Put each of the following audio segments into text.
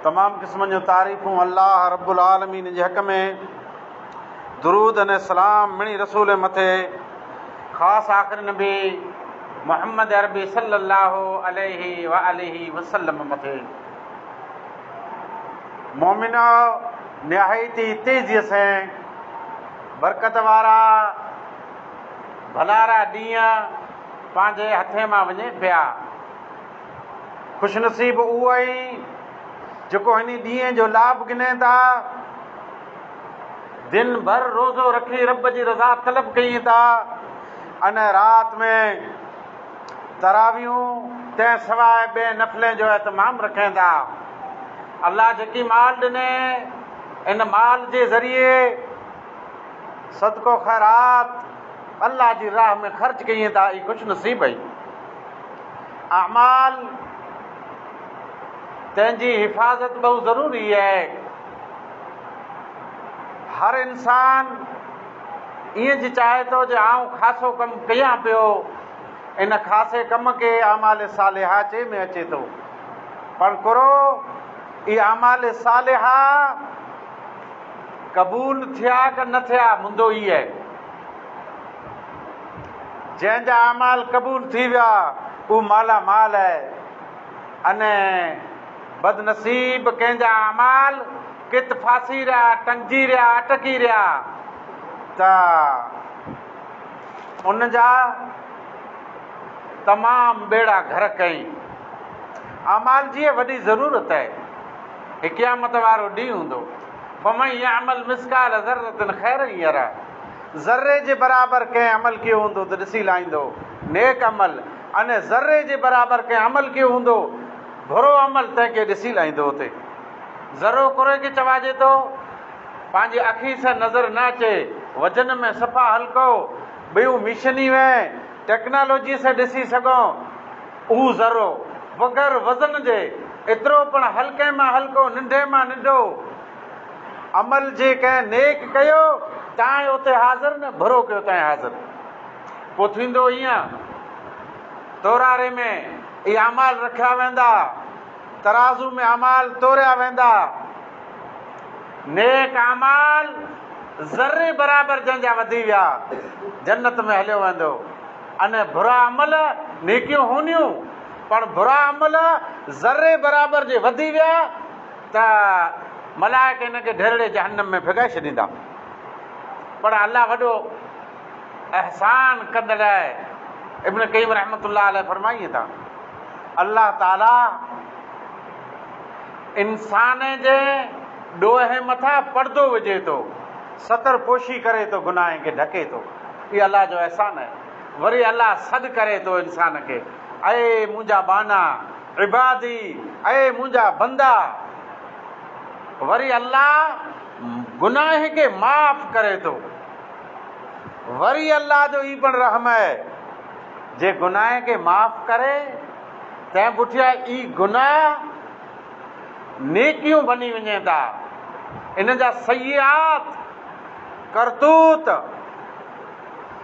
تمام قسمن جون تعريفون الله رب العالمين جي حق ۾، درود ۽ سلام مڙئي رسول مٿي، خاص آخري نبي محمد عربي صلّي الله عليه واٰله وسلّم مٿي، مؤمنؤ! نهايت ئي تيزيء سين برڪت وارا ڀلارا ڏينهن پنهنجي هٿين مان وڃي پيا. خوشنصيب اهو آهي جيڪو هن ڏينهن جو لاڀ گنهين ٿا، دن ڀر روزو رکي رب جي رضا طلب ڪين ٿا ان رات ۾ تراويحون تنهن سواء ٻين نفلين جو اهتمام رکين ٿا. الله جيڪي مال ڏني ان مال جي ذريعي صدقو خيرات الله جي راهه ۾ خرچ ڪين ٿا اهي خوشنصيب آهن. اعمال تنهن جي حفاظت بهو ضروري آهي. هر انسان ائين جي چاهي ٿو جو آئون خاصو ڪم ڪيان پيو. ان خاصي ڪم کي اعمال صالحه چئي ۾ اچي ٿو. پڻ ڪرو اي اعمال صالحه قبول ٿيا ڪه نه ٿيا مندو ئي آهي. جنهن جا اعمال قبول ٿي ويا، اهو مالا مال آهي ۽ بدنصيب ڪنهن جا اعمال ڪٿ ڦاسي رهيا، ٽنگجي رهيا، اٽڪي رهيا ته ان جا تمام ٻيڙا غرق ڪيائين. اعمال جي وڏي ضرورت آهي. هي قيامت وارو ڏينهن هوندو. فمن يعمل مثقال ذرة خيرا يره. ذري جي برابر ڪنهن عمل ڪيو هوندو ته ڏسي لاهيندو، نيڪ عمل، ان ذري جي برابر ڪنهن عمل ڪيو هوندو، برو عمل، تنهن کي ڏسي لاهيندو اتي ذرو ڪري کي چواجي ٿو، پنهنجي اکين سان نظر نه اچي، وزن ۾ صفا هلڪو، ٻيون ميشنيون ۽ ٽيڪنالاجيء سان ڏسي سگهون، اهو ذرو، بغير وزن جي، ايترو پڻ هلڪي مان هلڪو، ننڍي مان ننڍو، عمل جي ڪنهن نيڪ ڪيو، تانء اتي حاضر نه برو ڪيو تانء حاضر. پوء ٿيندو ائين، توراري ۾ اهي اعمال رکيا ويندا، ترازو ۾ اعمال توريا ويندا. نيڪ اعمال ذري برابر جنهن جا وڌي ويا، جنت ۾ هليو ويندو ۽ برا عمل، نيڪيون هونديون، پر برا عمل ذري برابر جي وڌي ويا، ته ملائڪ هن کي ڍرڙي جهنم ۾ ڦڳائي ڇڏيندا. پر الله وڏو احسان ڪندڙ آهي. ابن قيم رحمة الله عليه فرمائين ٿا، الله تعاليٰ انسان جي ڏوهه مٿان پردو وجهي ٿو، ستر پوشي ڪري ٿو، گناهن کي ڍڪي ٿو. اهو الله جو احسان آهي. وري الله سڏ ڪري ٿو انسان کي، اي منهنجا ٻانها! عبادي، اي منهنجا بندا! وري الله گناهه کي معاف ڪري ٿو. وري الله جو هي پڻ رحم اهي جي گناهه کي معاف ڪري تنهن پٺيان اي گناهه نيڪيون بني وڃين ٿا. ان جا سيئات، ڪرتوت،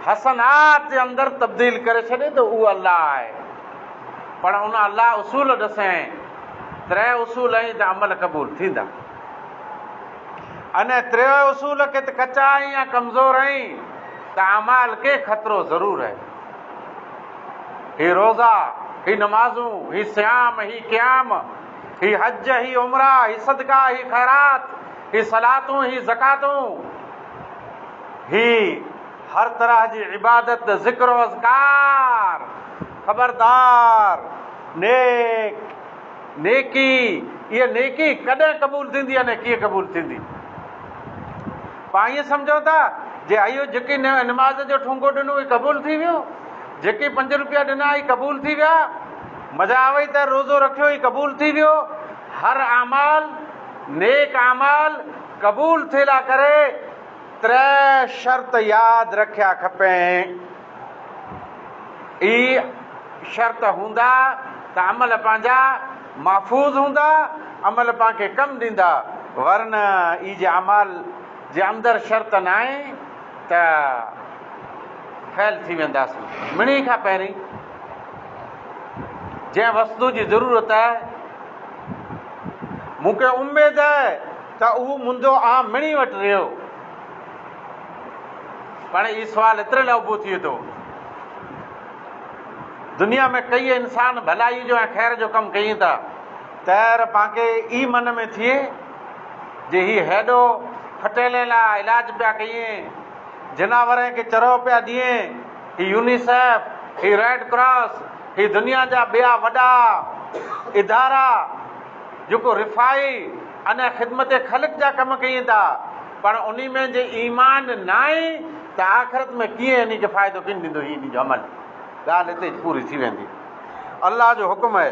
حسنات جي اندر تبديل ڪري ڇڏي ته اهو الله آهي پڻ ان الله اصول ڏسين تري اصول ائين ته عمل قبول ٿيندا انهي تري اصول کي ته ڪچا ائين يا ڪمزور ائين ته اعمال کي خطرو ضرور ائين هي روزا هي نمازون هي صيام هي قيام هي حج هي عمره هي صدقا هي خيرات هي صلاتون هي زڪاتون هي هر طرح جي عبادت، ذڪر و اذڪار، خبردار! نيڪ، نيڪي، اها نيڪي ڪڏهن قبول ٿيندي ۽ ڪيئن قبول ٿيندي؟ پاڻ ائين سمجهون ٿا جي اهو جيڪي نماز جو ٺونگو ڏنو هي قبول ٿي ويو، جيڪي پنج روپيا ڏنا هي قبول ٿي ويا، مزا آوئي ته روزو رکيو هي قبول ٿي ويو، هر اعمال، نيڪ اعمال، قبول ٿيلا ڪري تري شرط ياد رکيا کپين. اي شرط هوندا ته عمل پنهنجا محفوظ هوندا، عمل پان کي ڪم ڏيندا، ورنه اي جي اعمال جي اندر شرط ناهين ته فيل ٿي وينداسين. مڙهين کان پهرين جنهن وستو جي ضرورت مون کي اميد آهي ته اهو منهنجو آم مڻي وٽ رهيو. پڻ هي سوال ايتري لاء اڀو ٿئي ٿو. دنيا ۾ ڪيئي انسان ڀلائي جو ۽ خير جو ڪم ڪين ٿا. تير پانکي ئي من ۾ ٿئي جي هي هيڏو ڦٽيلين لاء علاج پيا ڪيين، جناورين کي چرو پيا ڏين، هي يونيسيف، هي ريڊ ڪراس، هي دنيا جا ٻيا وڏا ادارا جيڪو رفاهي ۽ خدمت خلق جا ڪم ڪين ٿا پر انهي ۾ جي ايمان ناهي ته آخرت ۾ ڪيئن انهي کي فائدو ڪين ڏيندو هي انهي جو عمل ڳالهه هتي ئي پوري ٿي ويندي الله جو حڪم اهي.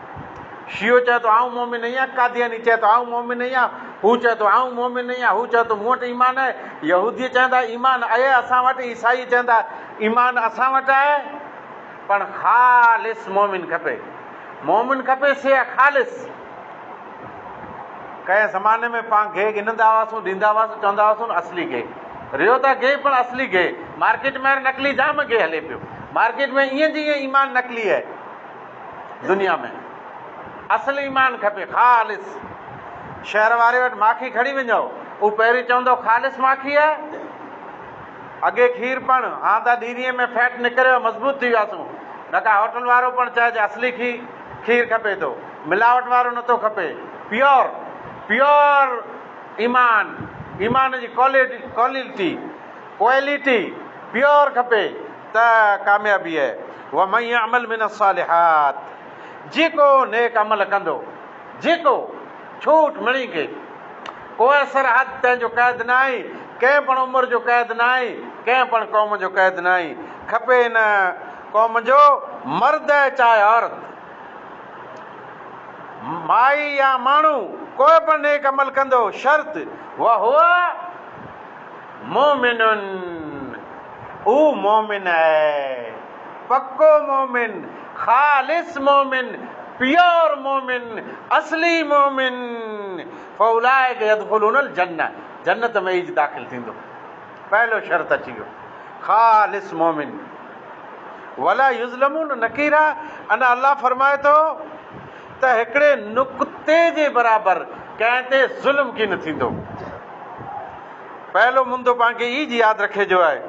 شيعو چوي ٿو آئون مؤمن نهين آهيان، قادياني چوي ٿو آئون مؤمن نهين آهيان، هو چوي ٿو آئون مؤمن نهين آهيان، هو چوي ٿو مون وٽ ايمان آهي، يهودي چوندا ايمان اهي اسان وٽ، عيسائي چوندا ايمان اسان وٽ آهي پر خالص مؤمن کپي، مؤمن کپي سي آهي خالص. ڪنهن زماني ۾ پان گيهه گنهندا هئاسون، ڏيندا هئاسون، چوندا هئاسون اصلي گيهه، ريو ته گيهه پر اصلي گيهه، مارڪيٽ ۾ هاڻي نقلي جام گيهه هلي پيو، مارڪيٽ ۾ ايئن جي ايئن ايمان نقلي آهي. دنيا ۾ اصل ايمان کپي خالص. شهر واري وٽ ماکي کڻي وڃو هو پهرين چوندو خالص ماکي آهي اڳي کير پڻ هان ته ڏيرينء ۾ فيٽ نڪريو مضبوط ٿي وياسون نه ڪا هوٽل وارو پڻ چئج اصلي کي کير کپي ٿو ملاوٽ وارو نه ٿو کپي پيور پيور ايمان ايمان جي ڪوالٽي ڪوالٽي ڪوالٽي پيور کپي. ته ڪاميابيء ومن يعمل من الصالحات جيڪو نيڪ عمل ڪندو جيڪو ڇوٽ مڻي کي ڪوئي سرحد تنهن جو قيد ناهي ڪنهن پڻ عمر جو قيد ناهي ڪنهن پڻ قوم جو قيد ناهي کپي هن قوم جو مرد آهي چاهي عورت مائي يا ماڻهو ڪوئي پڻ نيڪ عمل ڪندو شرط وهو مؤمن اهو مؤمن آهي پڪو مؤمن، خالص مؤمن، پيور مؤمن، اصلي مؤمن، فاولئک يدخلون الجنه جنت ۾ ايج داخل ٿيندو پهلو شرط اچي ويو خالص مؤمن ولا يظلمون نقيرا انا الله فرمائي ٿو ته هڪڙي نقطي جي برابر ڪنهن تي ظلم ڪين ٿيندو. پهلو مندو پان کي ايج ياد رکي جو آهي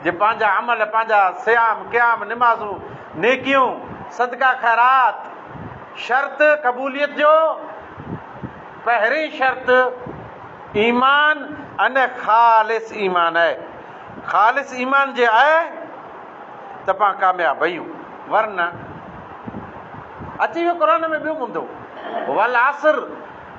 جي پنهنجا عمل، پنهنجا صيام، قيام، نمازون، نيڪيون، صدقا خيرات، شرط قبوليت جو پهرين شرط ايمان ۽ خالص ايمان آهي خالص ايمان جي آهي ته پان ڪامياب اهيون ورنه اچي ويو قرآن ۾ ٻيو مندو والعصر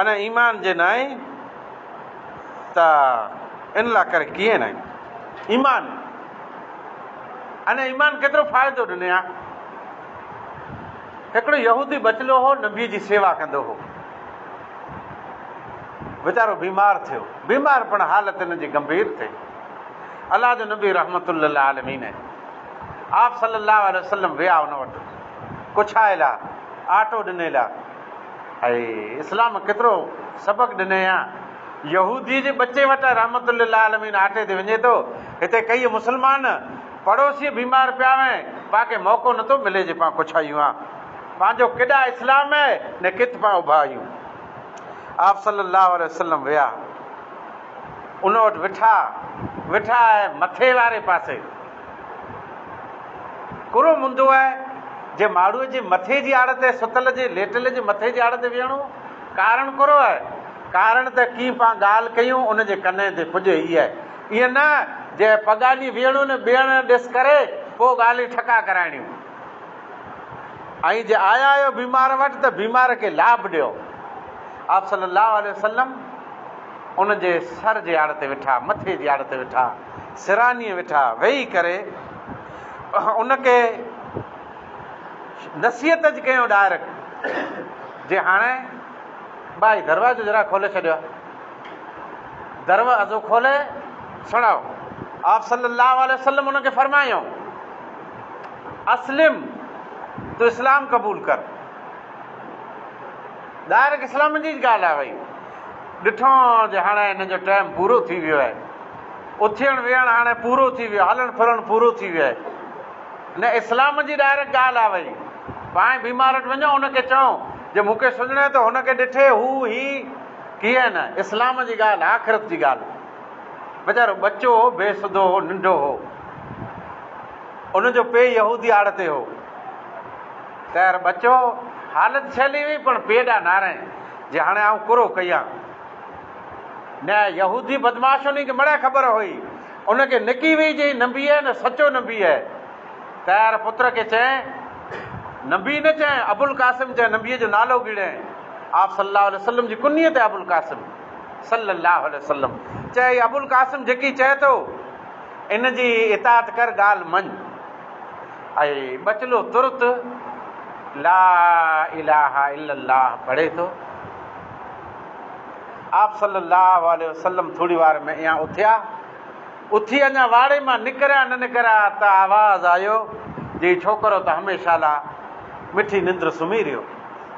ان ايمان جي ناهي ته ان لاء ڪري ڪيئن ناهي ايمان ان ايمان ڪيترو فائدو ڏني ها هڪڙو يهودي بچلو هو نبي جي سيوا ڪندو هو ويچارو بيمار ٿيو بيمار پڻ حالت ان جي گمڀير ٿي الله جو نبي رحمت الله عالمين آپ صلي الله عليه وسلم ويا ان وٽ ڪڇائي لا آٽو ڏني لا اي اسلام ڪيترو سبق ڏنئي ها. يهودي جي ٻچي وٽ رحمة للعالمين آٽي تي وڃي ٿو، هتي ڪيئي مسلمان پڙوسي بيمار پيا هين، پاکي موقعو نٿو ملي جي پان ڪڇ آيون ها. پنهنجو ڪيڏا اسلام هي نه ڪٿ پان اڀا آيون. آپ صلي الله عليه وسلم ويا ان وٽ وٺا وٺا هي مٿي واري پاسي ڪرو منڌو آهي، جي ماڙهوء جي مٿي جي آڙ تي ستل جي ليٽل جي مٿي جي آڙ تي ويهڻو ڪارڻ ڪرو آهي. ڪارڻ ته ڪي پان ڳالهه ڪيون ان جي ڪنهين تي ڪجهه هي آهي. ائين نه جي پڳاڃي ويهڻو نه ٻيڻ ڏس ڪري پوء ڳالهيون ٺڪا ڪرائڻيون. ۽ جي آيا آهيو بيمار وٽ ته بيمار کي لاڀ ڏيو. آپ صلي الله عليه وسلم ان جي سر جي آڙ تي ويٺا، مٿي جي آڙ تي ويٺا. سرانيء ويٺا ويهي ڪري ان کي نصيحت جي ڪيون ڊائريڪٽ جي هاڻي ٻائي دروازو ذرا کولي ڇڏيو دروازو کولي سڻاء آپ صلي الله عليه وسلم ان کي فرمايون اسلم تو اسلام قبول ڪر ڊائريڪٽ اسلام جي ڳالهه آ وئي ڏٺو جي هاڻي هن جو ٽائيم پورو ٿي ويو آهي اٿيڻ ويهڻ هاڻي پورو ٿي ويو هلڻ ڦرڻ پورو ٿي ويو نه اسلام جي ڊائريڪٽ ڳالهه آ وئي پاڻ بيمار وٽ وڃو ان کي چئو جي مون کي سڃڻي ته هن کي ڏٺي هو هي ڪيئي نه اسلام جي ڳالهه آخرت جي ڳالهه ويچارو ٻچو هو بي سڌو هو ننڍو هو ان جو پي يهودي آڙ تي هو تيار ٻچو حالت سهلي وئي پڻ پي ڏا نارين جي هاڻي آئون ڪرو ڪيان نه يهودي بدمعاشن کي مڙئي خبر هئي، ان کي نڪي وئي جي هي نبي آهي نه سچو نبي آهي. طيار پتر کي چيائين، نبي نه چيائين، ابوالقاسم چيائين، نبيء جو نالو گيڙيائين. آء صلي الله عليه وسلم جي ڪنيت آهي ابوالقاسم. صلي الله عليه وسلم چيائين، هي ابوالقاسم جيڪي چئي ٿو، ان جي اطاعت ڪر، ڳالهه مڃ. اهي ٻچلو ترت لا اله الا الله پڙهي ٿو. آپ صلّي اللّٰه عليه وسلّم ٿوري وار ۾ ايئان اٿيا، اٿي اڃا واڙي مان نڪريا نه نڪريا ته آواز آيو جو هي ڇوڪرو ته هميشه لا مٺي ننڊ سمهي رهيو.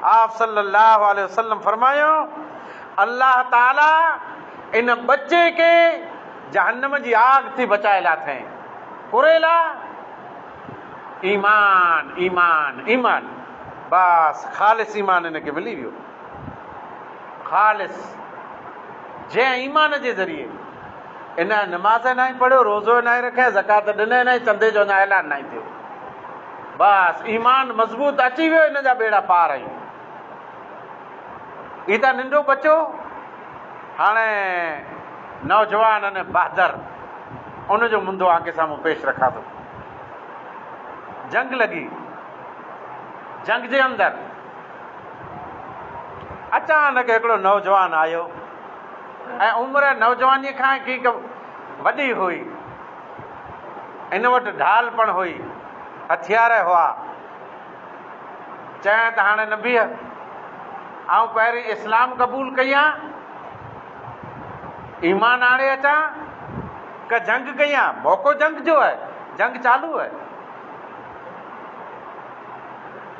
آپ صلّي اللّٰه عليه وسلّم فرمايو، الله تعاليٰ ان ٻچي کي جهنّم جي آگ ٿي بچائي لاٿئين. ڪريلا، ايمان، ايمان، ايمان، بس خالص ايمان هن کي ملي ويو. خالص جنهن ايمان جي ذريعي ان نماز ناهي پڙهيو، روزو ناهي رکيا، زڪات ڏني ناهي، چندي جو اڃا اعلان ناهي ٿيو. بس ايمان مضبوط اچي ويو ان جا ٻيڙا پار آهن. هي ته ننڍو بچو هاڻي نوجوان ان بهادر ان جو منڌو آنکي سامهون پيش رکان ٿو. جنگ لڳي جنگ جي اندر اچانڪ هڪڙو نوجوان آيو ۽ عمر نوجوانيء کان ڪينڪ وڏي هئي. هن وٽ ڍال پڻ هئي، هٿيار هئا. چيائين ته هاڻي نه بيهه، آئون پهرين اسلام قبول ڪيان، ايمان آڻي اچان، ڪه جنگ ڪيان، موقعو جنگ جو آهي، جنگ چالو آهي.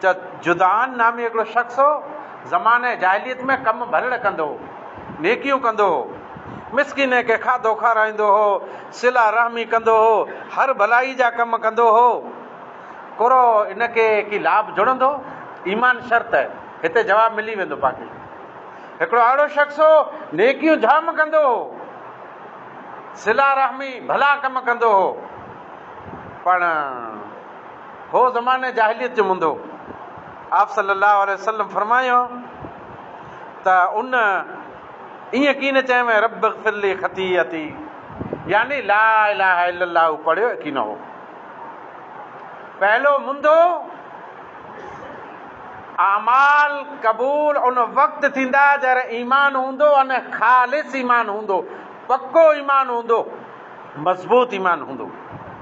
ته جدعان نامي هڪڙو شخص هو، زمانه جاهليت ۾ ڪم ڀلڙ ڪندو هو، نيڪيون ڪندو هو، مسڪينن کي کاڌو کارائيندو هو، صله رحمي ڪندو هو، هر ڀلائي جا ڪم ڪندو هو. ڪرو ان کي ڪي لاڀ جڙندو؟ ايمان شرط آهي. هتي جواب ملي ويندو باقي. هڪڙو اهڙو شخص هو، نيڪيون جام ڪندو هو، صله رحمي، ڀلا ڪم ڪندو هو، پڻ. هو زمانه جاهليت جو منڌو. آپصلي الله عليه وسلم فرمايو ته ان ائين ڪين چيم رب اغفر لي خطيئتي يعني لا اله الا الله پڙهيو ڪين هو. پهلو منڌو اعمال قبول ان وقت ٿيندا جر ايمان هوندو ان خالص ايمان هوندو پڪو ايمان هوندو مضبوط ايمان هوندو.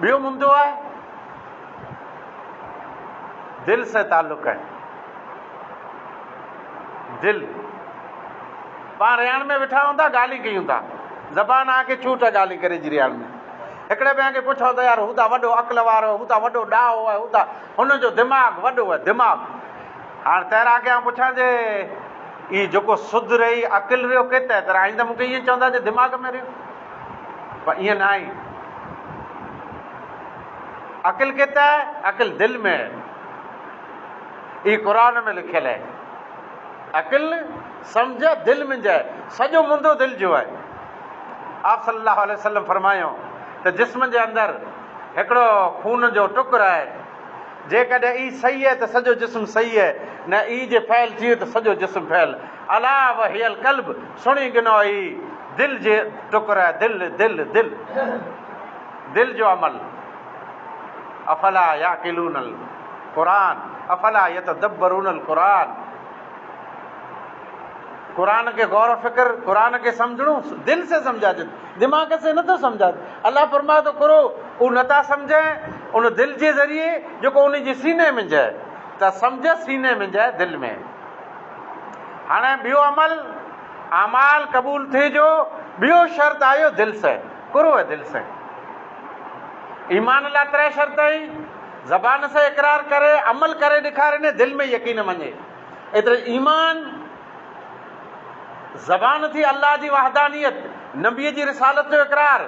ٻيو ممدو آهي دل سين تعلق آهي دل پاڻ رياڻ ۾ ويٺا هون ٿا ڳالهي ڪيون ٿا زبان آ کي چوٽ ڳالهي ڪري جي رياڻ ۾ هڪڙي ٻئي کي پڇو ته يار هو ته وڏو عقل وارو هو ته وڏو ڏاهو آهي هو ته هن جو دماغ وڏو آهي دماغ هاڻ تيرا کي آ پڇان جي هي جيڪو سڌ رهي عقل رهيو ڪي تحت رهي آئين ته مونکي هي چوندا جي دماغ ۾ رهيو پر ايئن ناهي. عقل ڪٿي آهي؟ عقل دل ۾ آهي. اهي قرآن ۾ لکيل آهي. عقل سمجهه دل منجهه آهي. سڄو منڌو دل جو آهي. آپ صلي الله عليه وسلم فرمايو ته جسم جي اندر هڪڙو خون جو ٽڪر آهي. جيڪڏهن اي صحيح آهي ته سڄو جسم صحيح آهي نه اي جي فعل ٿيو ته سڄو جسم فعل الا وهي القلب. سڻي گنو اي دل جي ٽڪر اي دل دل دل دل جو عمل افلا يعقلون القرآن افلا يتدبرون القرآن قرآن کي غور و فڪر قرآن کي سمجھڻو دل سي سمجھا جي دماغ سي نٿو سمجھا الله فرمائي ٿو ڪرو او نٿا سمجھين ان دل جي ذريعي جيڪو ان جي سيني منجھه ته سمجھه سيني منجھه دل ۾ هاڻي ٻيو عمل، اعمال، قبول ٿئي جو ٻيو شرط آيو دل سين، قرو ۽ دل سين. ايمان لا تري شرط آهين، زبان سين اقرار ڪري، عمل ڪري ڏيکارين ۽ دل ۾ يقين مڃي. ايتري ايمان، زبان ٿي الله جي وحدانيت، نبي جي رسالت جو اقرار.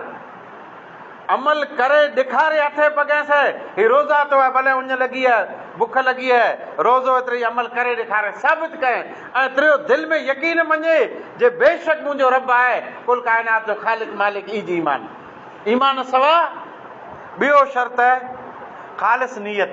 عمل ڪري ڏيکاري اٿئي پڳهين سئي هي روزا تو هي ڀلي اڃ لڳي هي بک لڳي هي روزو ايتري عمل ڪري ڏيکاري ثابت ڪئين ۽ تريو دل ۾ يقين مڃي جي بيشڪ منهنجو رب آهي ڪل ڪائنات جو خالق مالڪ ايج ايمان ايمان سوا ٻيو شرط خالص نيت.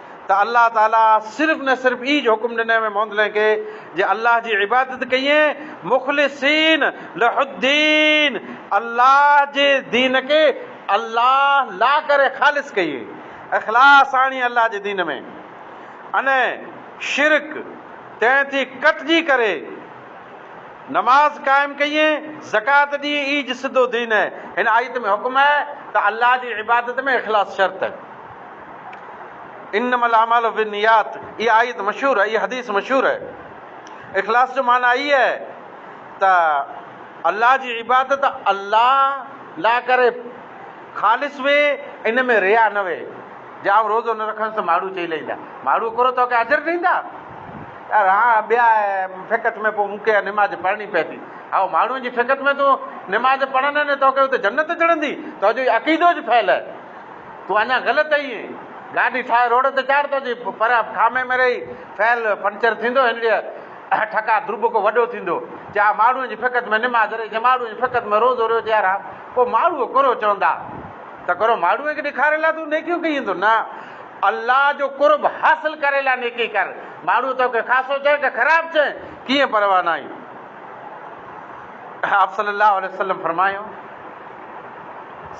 ته الله تعاليٰ صرف نه صرف ايج حڪم ڏنئين مين موندلين کي جي الله جي عبادت ڪيين مخلصين لھ الدين الله جي دين کي الله لا ڪري خالص ڪيين اخلاص آڻي الله جي دين ۾ ان شرڪ تين ٿي ڪٽجي ڪري نماز قائم ڪيين زڪات ڏي ايج سڌو دين هن آيت ۾ حڪم ته الله جي عبادت ۾ اخلاص شرط. انما الاعمال بالنيات اها آيت مشهور اها حديث مشهور اخلاص جو معنيٰ هي آهي ته الله جي عبادت الله لا ڪري خالص وي ان ۾ ريا نه وي جي آء روزو نه رکندس ته ماڻهو چئي لهيندا ماڻهو ڪرو توکي اجر ڏيندا يار ها ٻيا فقط ۾ پوء مونکي نماز پڙهڻي پوندي هاو ماڻهو جي فقط ۾ تون نماز پڙهندين توکي اتي جنت چڙهندي توجو عقيدو جي فعل تون اڃا غلط ايئين گاڏي ٺاهي روڊ تي چاڙهه ته جي پرهه ٺامي ۾ رهي فعل پنچر ٿيندو هنڙيء ٺڪا ڌرٻ ڪو وڏو ٿيندو جيها ماڙهوء جي فقط ۾ نماز رهي جي ماڙهوء جي فقط ۾ روزو رهيو جيها رها پوء ماڙهوء ڪرو چوندا ته ڪرو ماڙهوء کي ڏيکاري لاء تون نيڪيون ڪيئين ٿو نه الله جو قرب حاصل ڪري لاء نيڪي ڪر ماڙهوء توکي خاصو چئي ڪه خراب چئي ڪيئن پرواهه ناهي آپصلّي الله عليه وسلّم فرمايو.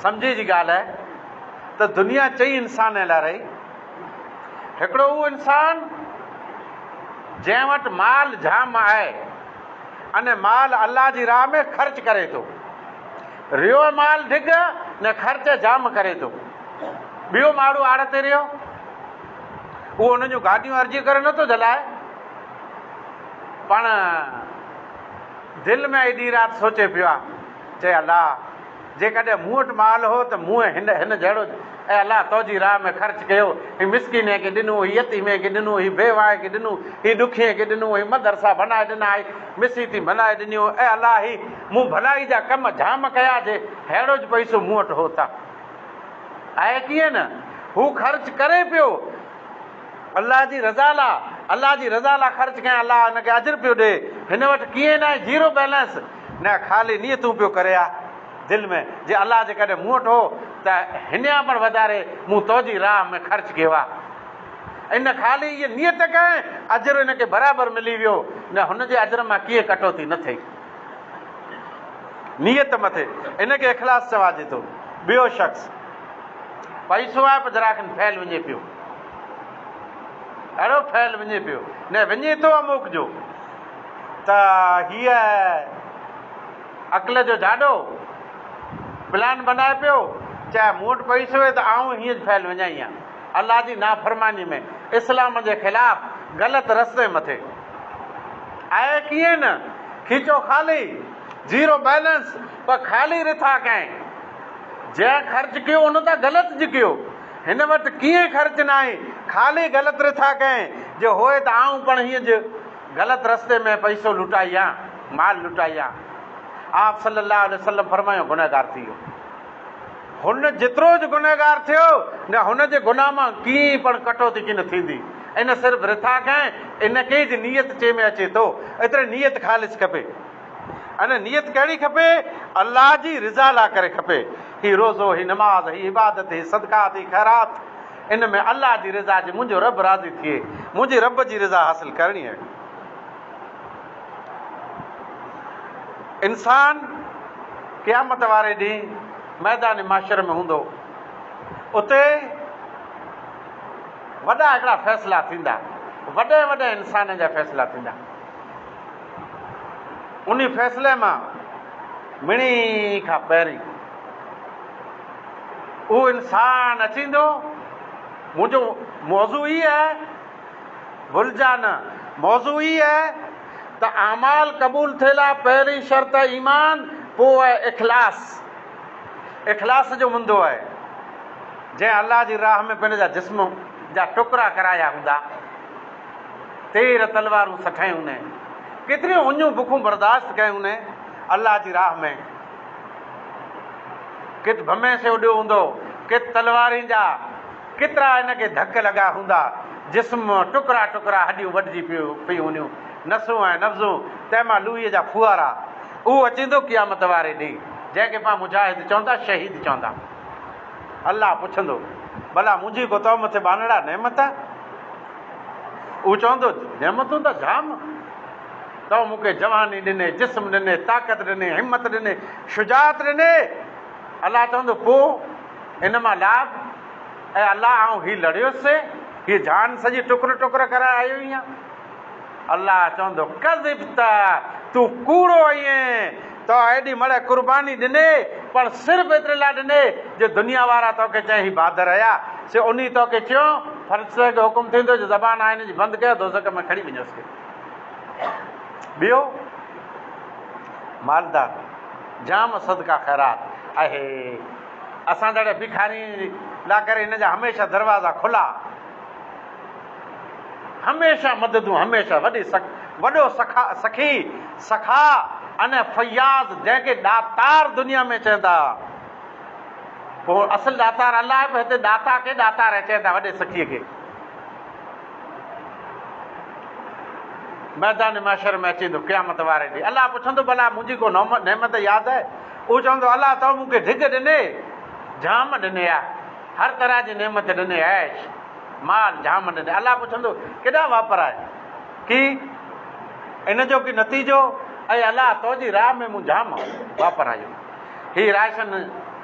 سمجهي جي ڳالهه آهي ته دنيا چئي انسانن لاء رهي. هڪڙو اهو انسان جنهن وٽ مال جام آهي ان مال الله جي راهه ۾ خرچ ڪري ٿو. ريو مال ڍڳ نه خرچ جام ڪري ٿو. ٻيو ماڻهو آڙ تي رهيو اهو ان جون گاڏيون ارجي ڪري نٿو جلائي پڻ دل ۾ ايڏي رات سوچي پيو آهي چي الله! جيڪڏهن مون وٽ مال هو ته مون هن هن جهڙو، اي الله! تو جي راهه ۾ خرچ ڪيو، هي مسڪينين کي ڏنو، هي يتيمين کي ڏنو، هي بيواهين کي ڏنو، هي ڏکين کي ڏنو، هي مدرسا بنائي ڏنا، هي مسيتيون بنائي ڏنيون، اي الله! هي مون ڀلائي جا ڪم جام ڪيا، جي ههڙو جي پئسو مون وٽ هو ته آهي ڪيئن نه هو خرچ ڪري پيو، الله جي رضا لا، الله جي رضا لا خرچ ڪيا، الله هن کي اجر پيو ڏي، هن وٽ ڪيئن نه آهي زيرو بيلنس، نه خالي نيتون پيو ڪري ها دل ۾ جي الله جيڪڏهن مون وٽ هو ته هنيان پڻ وڌاري مون توجي راهه ۾ خرچ ڪيو ها ان خالي هيء نيت ڪئين اجر هن کي برابر ملي ويو نه هن جي اجر مان ڪيئن ڪٽوتي نه ٿئي نيت مٿي ان کي اخلاص چواجي ٿو ٻيو شخص پئسو آهي پر ذرا کن فعل وڃي پيو اهڙو فعل وڃي پيو نه وڃي ٿو اموڪ جو ته هيء عقل جو جاڏو پلان بنائي پيو چي مون وٽ پئسو هي ته آئون هيء فعل وڃائي هان الله جي نافرماني ۾ اسلام جي خلاف غلط رستي مٿي آهي ڪيئن نه کيچو خالي زيرو بيلنس پر خالي رٿا ڪئين جنهن خرچ ڪيو ان ته غلط جي ڪيو هن وٽ ڪيئن خرچ ناهي خالي غلط رٿا ڪئين جي هوئي ته آئون پڻ هيء جي غلط رستي ۾ پئسو لٽائي يا مال لٽائي يا آپ صلّي اللّٰه عليه وسلّم فرمايو گنهگار ٿي ويو. هن جيترو جو گنهگار ٿيو نه هن جي گناهه مان ڪيئي پڻ ڪٽوتي ڪين ٿيندي ان صرف رٿاڪ ۽ ان ڪي جي نيت چي ۾ اچي ٿو اتري نيت خالص کپي ان نيت ڪهڙي کپي الله جي رضا لا ڪري کپي هي روزو هي نماز هي عبادت هي صدقات هي خيرات ان ۾ الله جي رضا جي منهنجو رب راضي ٿئي منهنجي رب جي رضا حاصل ڪرڻي آهي. انسان قيامت واري ڏينهن ميدان معشر ۾ هوندو اتي وڏا هڪڙا فيصلا ٿيندا وڏي وڏي انسانن جا فيصلا ٿيندا ان فيصلي مان مڙي کان پهرين اهو انسان اچيندو. منهنجو موضوع هي آهي، ڀلجان نه، موضوع هي آهي ته اعمال قبول ٿئي لا پهرين شرط آهي ايمان، پوء آهي اخلاص. اخلاص جو مندو آهي. جنهن الله جي راهه ۾ پنهنجي جا جسم جا ٽڪرا ڪرايا هوندا، تير تلوارون سٺايون هونئين، ڪيتريون اڃون بکون برداشت ڪيون هونئين الله جي راهه ۾، ڪٿ ڀمي سي اڏيو هوندو، ڪٿ تلوارين جا ڪيترا هن کي ڌڪ لڳا هوندا، جسم مان ٽڪرا ٽڪرا هڏيون وڍجي پيون هونديون، نسون ۽ نبضون، تنهن مان لوهيء جا ڦوهارا، اهو اچيندو قيامت واري ڏينهن، جنهن کي پاڻ مجاهد چوندا، شهيد چوندا. الله پڇندو، ڀلا منهنجي ڪو تو مٿي ٻانهڙا نعمت آ؟ اهو چوندو، نعمتون ته جام. تو مون کي جواني ڏني، جسم ڏني، طاقت ڏني، همت ڏني، شجاعت ڏني. الله چوندو، پوء ان مان لاڀ؟ اي الله آئون هي لڙيو سين، هيء جان سڄي ٽڪر ٽڪر ڪرائي آيو هيان. الله چوندو، ڪذبت، تون ڪوڙو آهين، تو ايڏي مڙهه قرباني ڏني، پر صرف ايتري لاء ڏني جو دنيا وارا تو کي چين هي بهادر هيا، سي انهي تو کي چيو، فرشتن کي حڪم ٿيندو جو زبان آهن جي بند ڪيو، دوزخ ۾ کڻي وڃوس کي. ٻيو مالدار جام صدقه خيرات اهي اسان جهڙي ڀکارين لا ڪري هن جا هميشه دروازا کلا هميشه مددون هميشه وڏي سک وڏو سکا سکي سکا ان فياض جنهن کي ڏاتار دنيا ۾ چون ٿا اصل ڏاتار الله آهي پر هتي ڏاتا کي ڏاتار چون ٿا وڏي سکي کي ميدان محشر ۾ اچي ايندو قيامت واري ڏينهن الله پڇندو ڀلا منهنجي ڪو نعمت ياد آهي اهو چوندو الله تو مون کي ڍڳ ڏني جام ڏني آ هر طرح جي نعمت ڏني عيش مال جام ڏني الله پڇندو ڪيڏا واپرائي ڪي ان جو ڪي نتيجو اي الله تو جي راهه ۾ مون جام واپرايو هي راشن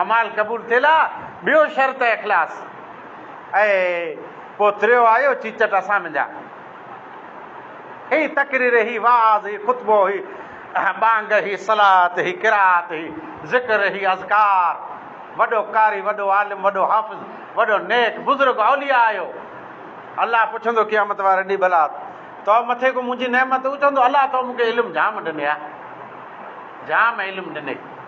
اعمال قبول ٿيل آ ٻيو شرط اخلاص اي پو تريو آيو چيچٽ اسان منجا هي تقرير هي وعظ هي خطبو هي ٻانگ هي صلات هي قرات هي ذڪر هي اذڪار وڏو قاري وڏو عالم وڏو حافظ وڏو نيڪ بزرگ اولياء آيو الله پڇندو قيامت واري ڏي ڀلا تو مٿي ڪو منجي نعمت هو چوندو الله تو مونکي علم جام ڏني آ جام علم ڏني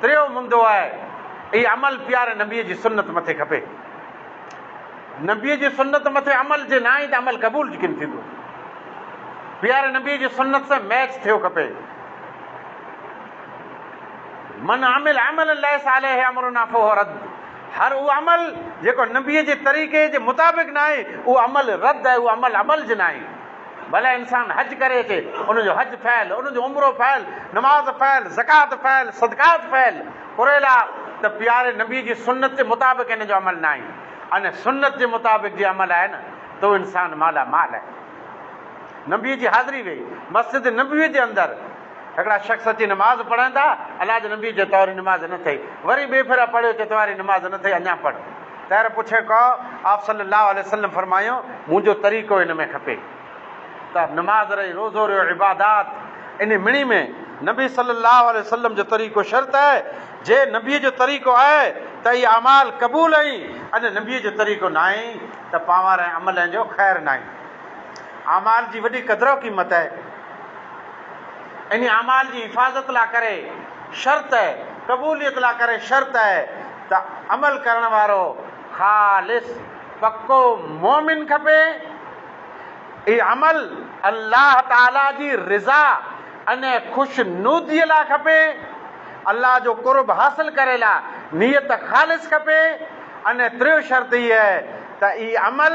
ٽيون مندو آهي اهي عمل پياري نبيء جي سنت مٿي کپي. نبيء جي سنت مٿي عمل جي ناهي ته عمل قبول جي ڪين ٿيندو. پياري نبيء جي سنت سان ميچ ٿيو کپي. من عمل عملا ليس عليه امرنا فهو رد هر اهو عمل جيڪو نبيء جي طريقي جي مطابق ناهي اهو عمل رد آهي اهو عمل عمل جي ناهي. ڀلا انسان حج ڪري تي ان جو حج فعل، ان جو عمرو فعل، نماز فعل، زڪوات فعل، صدقات فعل، پريلا ته پياري نبي جي سنت جي مطابق ان جو عمل ناهي ان سنت جي مطابق جي عمل آهي نه تو انسان مالا مال آهي نبي جي حاضري وئي مسجد نبوي جي اندر هڪڙا شخص اچي نماز پڙهن ٿا الله جي نبي جي طور نماز نه ٿئي وري ٻي ڦيرا پڙهيو چي تواري نماز نه ٿئي اڃا پڙهه تر پڇي ڪو، آپ صلّي اللّٰه عليه وسلّم فرمايو، منهنجو طريقو ان ۾ کپي ته نماز رهي، روزو رهيو، عبادات انهي مڻي ۾، نبي صلّي اللّٰه عليه وسلّم جو طريقو شرط آهي، جي نبي جو طريقو آهي ته اهي اعمال قبول ۽ اڄ نبي جو طريقو ناهي ته پاور ۽ عمل ۽ جو خير ناهي. اعمال جي وڏي قدر و قيمت آهي. انهي اعمال جي حفاظت لا ڪري شرط آهي، قبوليت لا ڪري شرط آهي ته عمل ڪرڻ وارو خالص پڪو مؤمن کپي. هي عمل الله تعاليٰ جي رضا ۽ خوشنوديء لاء کپي. الله جو قرب حاصل ڪري لاء نيت خالص کپي ۽ ٽيون شرط هيء ته هي عمل.